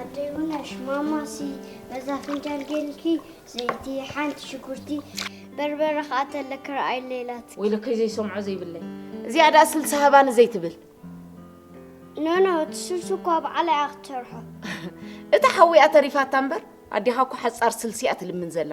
ኣደይ ውነሽ ማማሲ በዛ ፍንጃል ጌልኪ ዘይቲ ሓንቲ ሽጉርቲ በርበረ ከዓ ተለክ ረኣይ ሌላት ወይለከይ ዘይሰምዖ ዘይብለይ እዚኣ ደኣ ስልሲ ሃባኒ ዘይትብል ኖኖ እቲ ስልሲ እኳ በዓላ እያ ክትሰርሖ እታ ሓዊኣ ተሪፋታ እምበር ኣዴኻ እኮ ሓፃር ስልሲ እያ ትልምን ዘላ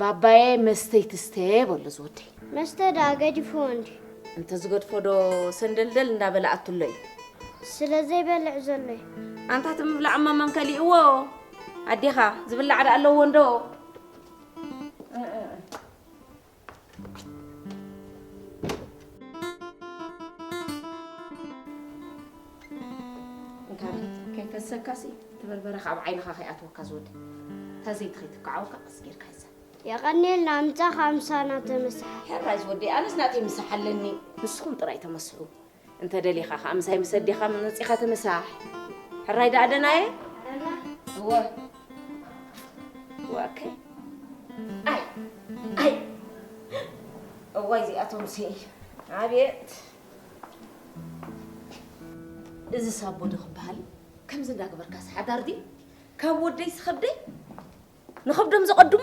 ባባየ መስተይቲ ስተ በሎ እዚ ወደይ። መስተ ደኣ ገዲፍዎ እንድዩ። እንተዝገድፎ ዶ ሰንደልደል እንዳ በለ ኣቱሎ እዩ። ስለ ዘይበልዕ ዘሎ እዩ። ኣንታ እቲ ምብላዕ እሞ መን ከሊእዎ ኣዴኻ፣ ዝብላዕ ደኣ ኣለዎ እንዶ። ከይፈሰካ ሲ እቲ በርበረ ካብ ዓይንኻ ከይኣትወካ ዝወድ እታ ዘይቲ ከይትከዓወካ ቀስ ጌርካ ይዛ የቐኒልና ምሳኻ ምሳና ተመሳሓል ሕራይ ዝወደይ ኣነስ ናተይ ምሳሕ ኣለኒ ንስኹም ጥራይ ተመስሑ እንተ ደሊኻ ከኣ ምሳይ ምስ ኣዴኻ መጺኻ ትምሳሕ። ሕራይ ደኣ ደና እየ? ደና? እወ። ዋከይ ኣይ ኣይ እዋይ እዚኣቶምሲ ኣብየት እዚ ሳቦ ዶ ክበሃል ከምዚ እንዳገበርካስ ሓዳር ድዩ ካብ ወደይስ ከብደይ ንኸብዶም ዘቐድሙ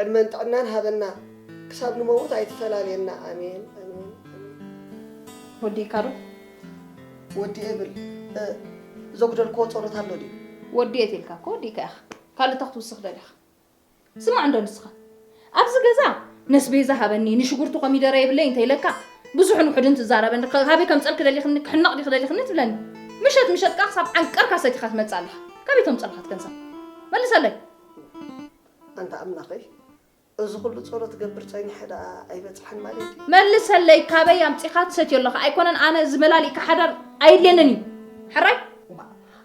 ዕድመን ጥዕናን ሃበና ክሳብ ንመውት ኣይትፈላልየና ኣሜን ኣሜን ኣሜን። ወዲእካ ዶ? ወዲኤ ብል እ ዘጉደልክዎ ጸሎት ኣሎ ድዩ? ወዲኤ ተልካ እኮ ወዲእካ ኢኻ ካልእ እንታይ ክትውስኽ ደሊኻ? ስማዕ እንዶ ንስኻ ኣብዚ ገዛ ነስቤዛ ሃበኒ ንሽጉርቲ ኮሚደረ የብለይ እንተ ኢለካ ብዙሕን ውሑድን ትዛረበኒ ካበይ ከምጸልኪ ደሊኽኒ ክሕነቕ ዲኺ ደሊኽኒ ትብለኒ ምሸት ምሸት ከኣ ክሳብ ዓንቀርካ ሰቲኻ ትመጽእ ኣለኻ ካበይ ተምጸልኻት ገንዘብ መልሰለይ ኣንታ ኣምላኸይ እዚ ኩሉ ጸሎት ገብር ጸኒሐ ደኣ ኣይበጽሐን ማለት እዩ። መልሰለይ ካበይ ኣምጺኻ ትሰትዮ ኣለኻ ኣይኮነን ኣነ እዚ መላሊእካ ሓዳር ኣየድልየንን እዩ ሕራይ።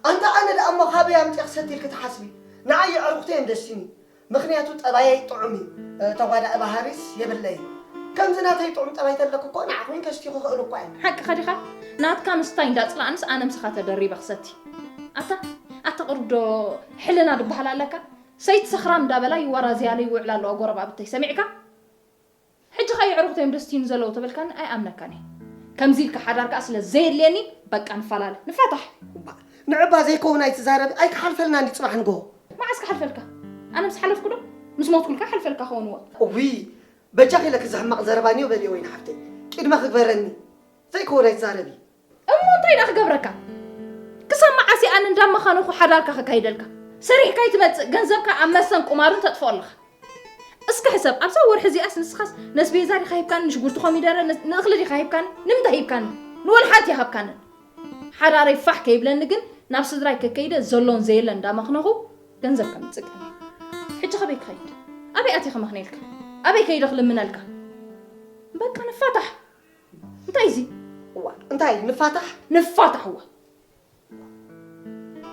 ኣንታ ኣነ ደኣ እሞ ካበይ ኣምጺኣ ክሰቲ ኢልኪ ትሓስቢ ንዓይ የዕሩኽተይ እየን ደሲኒ ምኽንያቱ ጠባየይ ጥዑም እዩ ተጓዳኢ ባህሪስ የብለይን ከምዚ ናተይ ጥዑም ጠባይ ተለኪ እኮ ንዓኺ እውን ከስትዩ ክኽእል እኳ እየ። ሓቅኻ ዲኻ ናትካ ምስታይ እንዳጽላእንስ ኣነ ምሳኻ ተደሪበ ክሰቲ ኣታ ኣታ ቅሩብ ዶ ሕልና ድበሃል ኣለካ ሰይቲ ሰኽራም ዳበላ ይዋራዘያሉ ይውዕላ ኣለዋ ጎረባብተይ ሰሚዕካ ሕጂ ከኣ የዕሩኽተይ እዮም ደስትዩኒ ዘለዉ ተበልካኒ ኣይኣምነካን እየ ከምዚ ኢልካ ሓዳር ከኣ ስለ ዘየድልየኒ በቃ ንፋላለ ንፋታሕ። እባ ንዕባ ዘይከውን ኣይትዛረቢ ኣይክሓልፈልናን ዩ ጽባሕ ንግሆ። መዓስ ክሓልፈልካ ኣነ ምስ ሓለፍኩ ዶ ምስ ሞትኩልካ ይሓልፈልካ ከውን እወ። እውይ በጃኺ ለኪ እዚ ሕማቕ ዘረባ ኒዮ በልዮ ወይኒ ሓፍተይ ቂድመ ክግበረኒ ዘይከውን ኣይትዛረቢ። እሞ እንታይ ደኣ ክገብረካ ክሳብ መዓስ እየ ኣነ እንዳመኻነኹ ሓዳርካ ከካይደልካ ሰሪሕካ ይትመጽእ ገንዘብካ ኣብ መሰን ቁማርን ተጥፍኦ ኣለኻ እስከ ሕሰብ ኣብዛ ወርሒ እዚኣስ ንስኻስ ነስቤዛ ዲኻ ሂብካኒ ንሽጉርቲ ኮሚደረ ንእኽሊ ዲኻ ሂብካኒ ንምንታይ ሂብካኒ ንወልሓንቲ ይሃብካኒ ሓዳረይ ፋሕ ከይብለኒ ግን ናብ ስድራይ ከከይደ ዘሎን ዘየለን እንዳመኽነኹ ገንዘብ ከምጽእ ሕጂ ከበይ ክኸይድ ኣበይ ኣትየ ከመኽነልካ ኣበይ ከይደ ክልምነልካ በቃ ንፋታሕ እንታይ እዚ እዋ እንታይ ንፋታሕ ንፋታሕ እዋ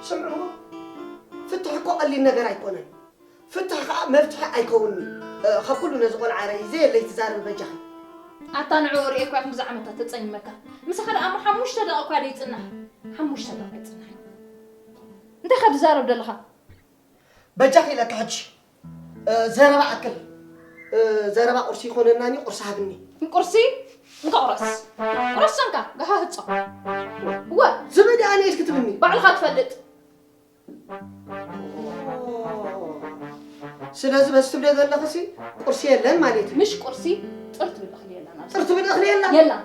ስምዕዎ ፍትሒ እኮ ቀሊል ነገር ኣይኮነን ፍትሒ ከዓ መፍትሒ ኣይከውንኒ ካብ ኩሉ ነዚ ቆልዓ ረይ ዘየለይ ትዛረቢ በጃኺ ኣታ ንዕኡ ርኤ እኳ ክንድዚ ዓመታት ተጸሚመካ ምሳኻ ደኣ እሞ ሓሙሽተ ደቂ እኳ ደይጽናሕ ሓሙሽተ ደቂ ኣይጽናሕ እንታይ ካብ ትዛረብ ዘለኻ በጃኺ ኢለካ ሕጂ ዘረባ ኣክል ዘረባ ቁርሲ ይኮነናኒ ቁርሲ ሃብኒ ቁርሲ እንካ ቁረስ ቁረስ ሰንካ ጋሃ ህጾ ወ ዝበደ ኣነ ኢልክ ትብኒ ባዕልካ ትፈልጥ ስለዚ በዚ ትብለ ዘለኽሲ ቁርሲ የለን ማለት እዩ ምሽ ቁርሲ ጥርት ብል እኽሊ የላን ጥርት ብል እኽሊ የላን የላን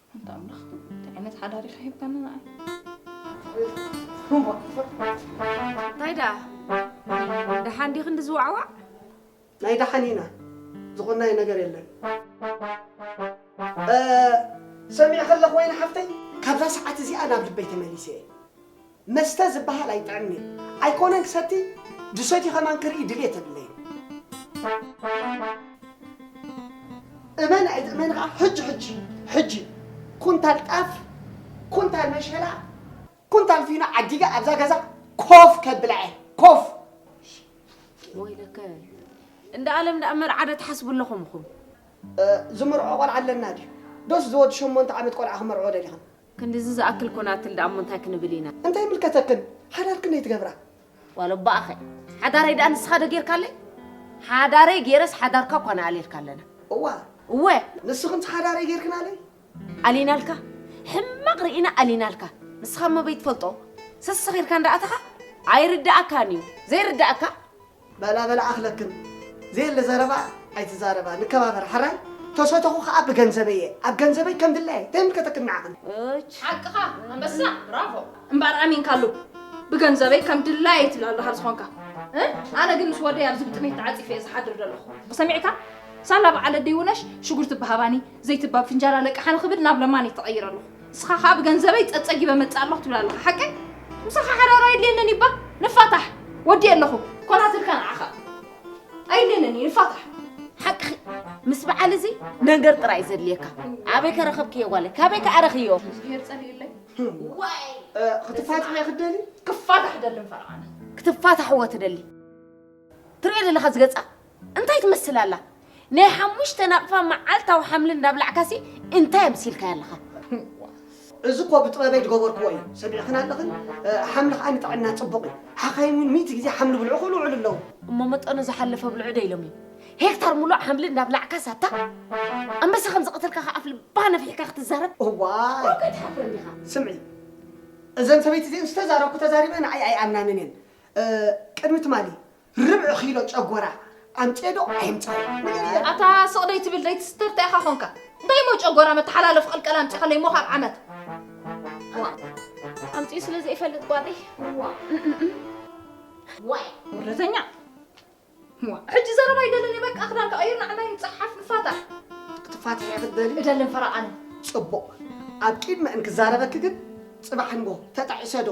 ኣንታ ኣምላኽ እንታይ ዓይነት ሓዳር ኢኻ ሂብካኒ ንዓይ እንታይ ደኣ ደሓን ዲኺ እንዲ ዝዋዕዋዕ ናይ ደሓን ኢና ዝቆናየ ነገር የለን ሰሚዐ ከለኹ ወይኒ ሓፍተይ ካብዛ ሰዓት እዚኣ ናብ ልበይ ተመሊሰ እየ መስተ ዝባሃል ኣይጥዕምን'የ ኣይኮነን ክሰቲ ድሰትዩ ከማን ክርኢ ድልየት የብለይን። እመን ኣይትእመን ከኣ ሕጂ ሕጂ ሕጂ ኩንታል ጣፍ ኩንታል መሸላ ኩንታል ፊኖ ዓዲገ ኣብዛ ገዛ ኮፍ ከብላ'የ ኮፍ። ወይለከ እንዳ ኣለም ደኣ መርዓ ዶ ትሓስቡ ኣለኹም ኢኹም። ዝምርዖ ቆልዓ ኣለና ድዩ ዶስ ዝወዲ ሸሞንተ ዓመት ቆልዓ ክመርዕዎ ደሊኽን። ክንድዚ ዝኣክል ኮናትል ደኣ'ሞ እንታይ ክንብል ኢና? እንታይ ይምልከተክን? ሓዳር ክንደይ ትገብራ? ዋላ እባ'ኸ ሓዳረይ ደኣ ንስኻ'ዶ ጌርካለይ? ሓዳረይ ጌረስ ሓዳርካ እኳ ንኣልየልካ ኣለና። እዋ! እወ! ንስኽንስ ሓዳረይ ጌርክናለይ? ኣሊናልካ? ሕማቕ ርኢና ኣሊናልካ? ንስኻ'ሞ በይትፈልጦ ሰሰኺርካ እንዳኣተኻ ኣይርደኣካን'ዩ። ዘይርደኣካ? በላ በላ ኣኽለክም ዘየለ ዘረባ ኣይትዛረባ ንከባበር ሐራይ ተሰተኹ ኸኣ ብገንዘበይ እየ ኣብ ገንዘበይ ከም ድላየይ ተይምልከተክን ንዓኽን። እች። ሓቅኻ ኣንበሳ ብራቮ። እምበኣር ኣሚንካሉ ብገንዘበይ ከም ድላየይ ትብል ኣለኻ ዝኾንካ እ ኣነ ግን ምስ ወደይ ኣብዚ ብጥሜት ተዓጺፈ እየ ዝሓድር ዘለኹ ሰሚዕካ ሳላ በዓል ኣደይ ውነሽ ሽጉርቲ ብሃባኒ ዘይትባብ ፍንጃል ኣለቅሓ ንኽብል ናብ ለማኒ ተቐይረ ኣለኹ። ንስኻ ከኣ ብገንዘበይ ጸጸጊበ እመጽእ ኣለኹ ትብል ኣለኻ። ሓቀይ? ምሳኻ ሓዳር ኣየድልየንን እዩ እባ ንፋታሕ። ወድየ ኣለኹ። ኮናትልካ ንዓኻ ኣየድልየንን እዩ ንፋታሕ። ሓቅኺ ምስ በዓል እዚ ነገር ጥራይ እዩ ዘድልየካ። ኣበይ ከ ረኸብክዮ ጓለይ? ካበይ ከኣ ረኺዮ? እግዚኣብሄር ጸልየለይ። ዋይ! ክትፋትሕ እያ ክትደሊ? ክፋታሕ እደሊ እምበር ኣነ። ክትፋታሕዎ ትደሊ? ትርእዮ ዘለኻ እዚ ገጻ? እንታይ ትመስል ኣላ ናይ ሓሙሽተ ናቕፋ መዓልታዊ ሓምሊ እንዳብላዕካሲ እንታይ ኣምሲልካያ ኣለኻ? እዚ እኮ ብጥበበይ ዝገበርክዎ እዩ ሰሚዕኽን ኣለኽን ሓምሊ ከኣ ንጥዕና ጽቡቕ እዩ ሓኻይም እውን ሚእቲ ግዜ ሓምሊ ብልዑ ክብሉ ይውዕሉ ኣለዉ። እሞ መጠኑ ዝሓለፈ ብልዑ ዶ ኢሎም እዮም? ሄክታር ምሉእ ሓምሊ እንዳብላዕካስ ኣታ ኣንበሳ ከም ዝቐተልካ ከኣ ኣፍ ልባ ነፊሕካ ክትዛረብ እዋይ ዋው ከይትሓፍር እንዲኻ። ስምዒ እዘን ሰበይቲ እዚኤን ዝተዛረብኩ ተዛሪበን ንዓይ ኣይኣምናንን እየን ቅድሚ ትማሊ ርብዒ ኪሎ ጨጎራ ኣምፅኤ ዶ ኣይምፃእ? ኣታ ስቕ ደይትብል ደይትስተር እንታይ ኢኻ ኾንካ? እንታይ እሞ ጨጎራ መተሓላለፊ ቅልቀል ኣምፂእኻለይ እሞ ካብ ዓመት ኣምፂኡ ስለ ዘይፈልጥ ጓለይ ዋይ ወረተኛ ሕጂ ዘረባ ይደልን በቃ ክዳን ክቐይር ንዓና ይንፀሓፍ ንፋታ ክትፋትሕ እየ ክትበሊ እደልን ፈረቓን ፅቡቕ ኣብ ቂድመ እንክዛረበኪ ግን ፅባሕ ንጎ ተጣዒሰ ዶ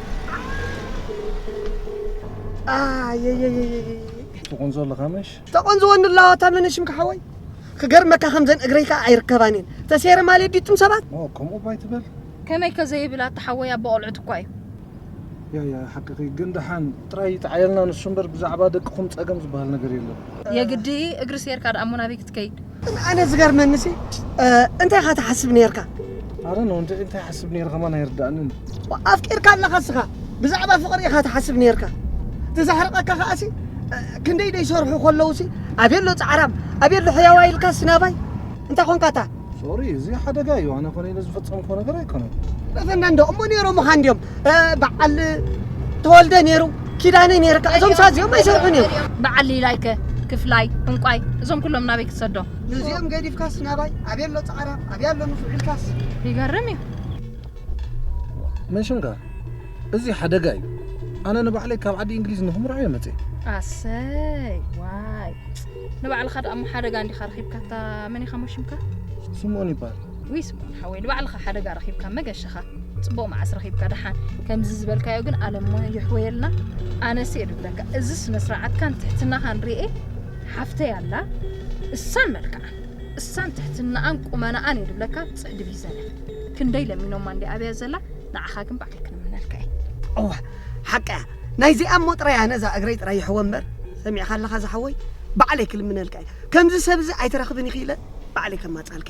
ትቆንዞ ኣለኻ ምሽ ተቆንዝወኒ ኣለዋ ታመነሽም ክሓወይ ክገርመካ ከምዘን እግረይ ከዓ ኣይርከባን እየን ተሴረ ማለት ዲጡም ሰባት ከምኡ ባይ ትበል ከመይ ከዘይብል ኣተሓወይ ኣቦ ቆልዑት እኳ እዩ ያያ ሓቅኺ ግን ደሓን ጥራይ ይጥዓየልና ንሱ እምበር ብዛዕባ ደቅኹም ጸገም ዝበሃል ነገር የለን የግዲ እግሪ ሴርካ ደኣ እሞ ናበይ ክትከይድ ግን ኣነ ዝገርመኒ ሲ እንታይ ኢኻ ትሓስብ ነርካ ኣረ ነው እንደ እንታይ ሓስብ ነይረ ከማን ኣይርዳእንን ኣፍቂርካ ኣለኻ ስኻ ብዛዕባ ፍቕሪ ኢኻ ትሓስብ ነርካ ተዛሕርቐካ ከዓ ሲ ክንደይ ደይ ሰርሑ ከለዉ ሲ ኣቤሎ ፃዕራም ኣቤሎ ሕያዋ ኢልካ ስናባይ እንታይ ኮንካ እታ ሶሪ እዚ ሓደጋ እዩ ኣነ ኮነ ኢለ ዝፈፀምኮ ነገር ኣይኮነን ረፈና እንዶ እሞ ነይሮምኻ እንዲዮም በዓል ተወልደ ነይሩ ኪዳነ ነይርካ እዞም ሳት እዚኦም ኣይሰርሑን እዮም በዓል ሊላይከ ክፍላይ እንቋይ እዞም ኩሎም ናበይ ክትሰዶም ንዚኦም ገዲፍካስ ናባይ ኣበይ ኣሎ ፃዕራ ኣብያ ኣሎ ንፉዕ ኢልካስ ይገርም እዩ መንሽንጋ እዚ ሓደጋ እዩ ኣነ ንባዕለይ ካብ ዓዲ እንግሊዝ ንክምርዖ እየ መፅእ ኣሰይ ዋይ ንባዕልኻ ደኣ እሞ ሓደጋ እንዲኻ ረኺብካታ መን ኢኻ ሞሽምካ ስምኦን ይበሃል ውይ ስምኦን ሓወይ ንባዕልኻ ሓደጋ ረኺብካ መገሻኻ ፅቡቕ መዓስ ረኺብካ ደሓን ከምዚ ዝበልካዮ ግን ኣለሞ ይሕወየልና ኣነስ እየ ድብለካ እዚ ስነ ስርዓትካን ትሕትናኻን ርኤ ሓፍተይ ኣላ እሳን መልክዓ እሳን ትሕትናኣን ቁመናኣን እየ ድብለካ ፅዕዲ ቢዘነ ክንደይ ለሚኖማ እንዲ ኣብያ ዘላ ንዓኻ ግን ባዕለይ ክንምነልካ እየ እዋ ሓቂ እያ ናይዚኣ እሞ ጥራይ ኣነ እዛ እግረይ ጥራይ ይሕወ እምበር ሰሚዕካ ኣለኻ ዝሓወይ ባዕለይ ክልምነልካ እየ ከምዚ ሰብ እዚ ኣይትረኽብን ኢኺ ኢለ ባዕለይ ከማፃልካ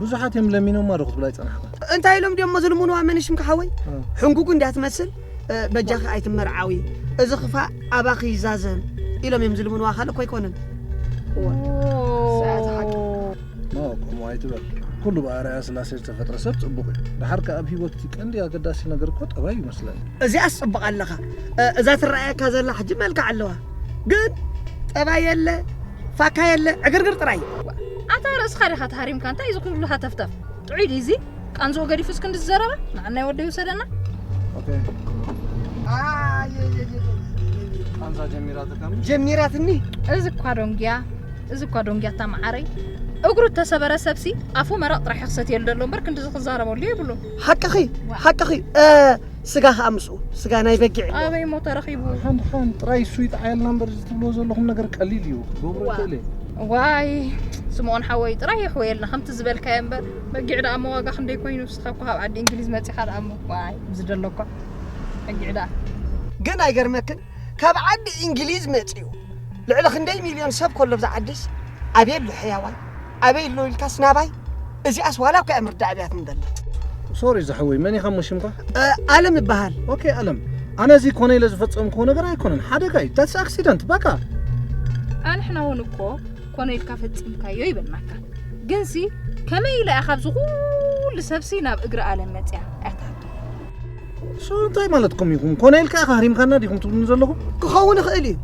ብዙሓት እዮም ለሚኖማ ዶ ክትብላ ይጸናሕካ እንታይ ኢሎም ድሞ ዝልምንዋ መንሽምካ ሓወይ ሕንጉጉ እንድያ ትመስል በጃኺ ኣይትመርዓዊ እዚ ክፋእ ኣባኺ ይዛዘም ኢሎም እዮም ዝልምንዋ ካልእ እኮ ኣይኮነን ከምኡ ኣይትበል ኩሉ ብኣርኣያ ስላሴ ዝተፈጥረ ሰብ ፅቡቕ እዩ ድሓር ከ ኣብ ሂወት ቀንዲ ኣገዳሲ ነገር እኮ ጠባይ እዩ መስለኒ እዚኣስ ፅቡቕ ኣለኻ እዛ ትረኣየካ ዘላ ሕጂ መልክዕ ኣለዋ ግን ጠባይ የለ ፋካ የለ ዕግርግር ጥራይ ኣታ ርእስኻ ዲኻ ተሃሪምካ እንታይ እዚ ኩሉ ሃተፍተፍ ጥዑይ ድዩ እዚ ቃንዝኡ ገዲፉ እስክንዲ ዝዘረባ ንዓናይ ወዲ ይውሰደና ቃንዛ ጀሚራትካ ጀሚራትኒ እዚ እኳ ዶንጊያ እዚ እኳ ዶንጊያ እታ መዓረይ እግሩ እተሰበረ ሰብሲ ኣፉ መረቕ ጥራሕ ክሰትየሉ ደሎ እምበር ክንዲ ዝክዛረበሉ የብሉ ሓቅኺ ሓቅኺ ስጋ ከዓ ምስኡ ስጋ ናይ በጊዕ እዩ። ኣበይ እሞ ተረኺቡ ሓን ሓን ጥራይ እሱ ይጥዓየልና እምበር እዚ ትብልዎ ዘለኹም ነገር ቀሊል እዩ ክገብሮ ይኽእል እየ ዋይ ስምኦን ሓወይ ጥራይ የሕወየልና ከምቲ ዝበልካዮ እምበር በጊዕ ደኣ እሞ ዋጋ ክንደይ ኮይኑ ንስኻ እኮ ካብ ዓዲ እንግሊዝ መፂኻ ደኣ እሞ ዋይ ዝደለኳ በጊዕ ደኣ ግን ኣይገርመክን ካብ ዓዲ እንግሊዝ መፂኡ ልዕሊ ክንደይ ሚልዮን ሰብ ከሎ ብዛ ዓዲስ ኣቤሉ ሕያዋይ ኣበይ ኣሎ ኢልካስ ናባይ እዚኣስ ዋላ እኳ እየ ምርዳእ ኣብያት ንደሊ ሶሪ ዝሓወይ መን ኢኻ እሞ ሽምካ ኣለም ይበሃል ኦኬ ኣለም ኣነ እዚ ኮነ ኢለ ዝፈጸምክዎ ነገር ኣይኮነን ሓደጋ እዩ ዳትስ ኣክሲደንት በቃ ኣንሕና እውን እኮ ኮነ ኢልካ ፈጺምካዮ ይበልናካ ግንሲ ከመይ ኢለ እያ ካብዚ ኩሉ ሰብሲ ናብ እግሪ ኣለም መፅያ ኣታሃቶ ሶ እንታይ ማለትኩም ኢኹም ኮነ ኢልካ ኢኻ ሃሪምካና ዲኹም ትብሉኒ ዘለኹም ክኸውን ይኽእል እዩ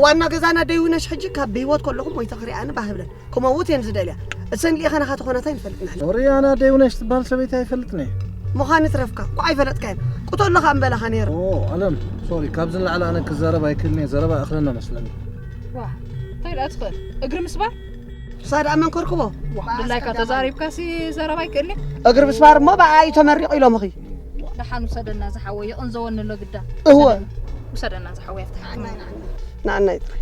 ዋና ገዛና ደይውነሽ ሕጂ ካብ ብሂወት ከለኹም ወይ ተኽሪኣኒ ባህብለን ክመውት እየን ዝደልያ እሰን ልኢኻ ናኻ ተኾናት ኣይንፈልጥን ኣሕና ወርይ ኣነ ኣደ ይውነሽ ትበሃል ሰበይቲ ኣይፈልጥን እየ ምዃን ይትረፍካ እኳ ኣይፈለጥካዮን ቁተሎ ከ እምበለኻ ነይረ ኦ ኣለም ሶሪ ካብዚ ንላዕሊ ኣነ ክዛረብ ኣይክእልን እየ ዘረባ እኽለና መስለኒ ዋ እንታይ ደኣ ትኽእል እግሪ ምስባር ንሳ ደኣ መን ከርክቦ ድላይካ ተዛሪብካ ሲ ዘረባ ኣይክእልን እግሪ ምስባር እሞ ብኣ እዩ ተመሪቑ ኢሎምኺ ደሓን ውሰደና ዝሓወይ ይቕንዘወኒ ኣሎ ግዳ እወ ውሰደና ዝሓወይ ኣብቲ ሕክምና ንኣና ይጥራይ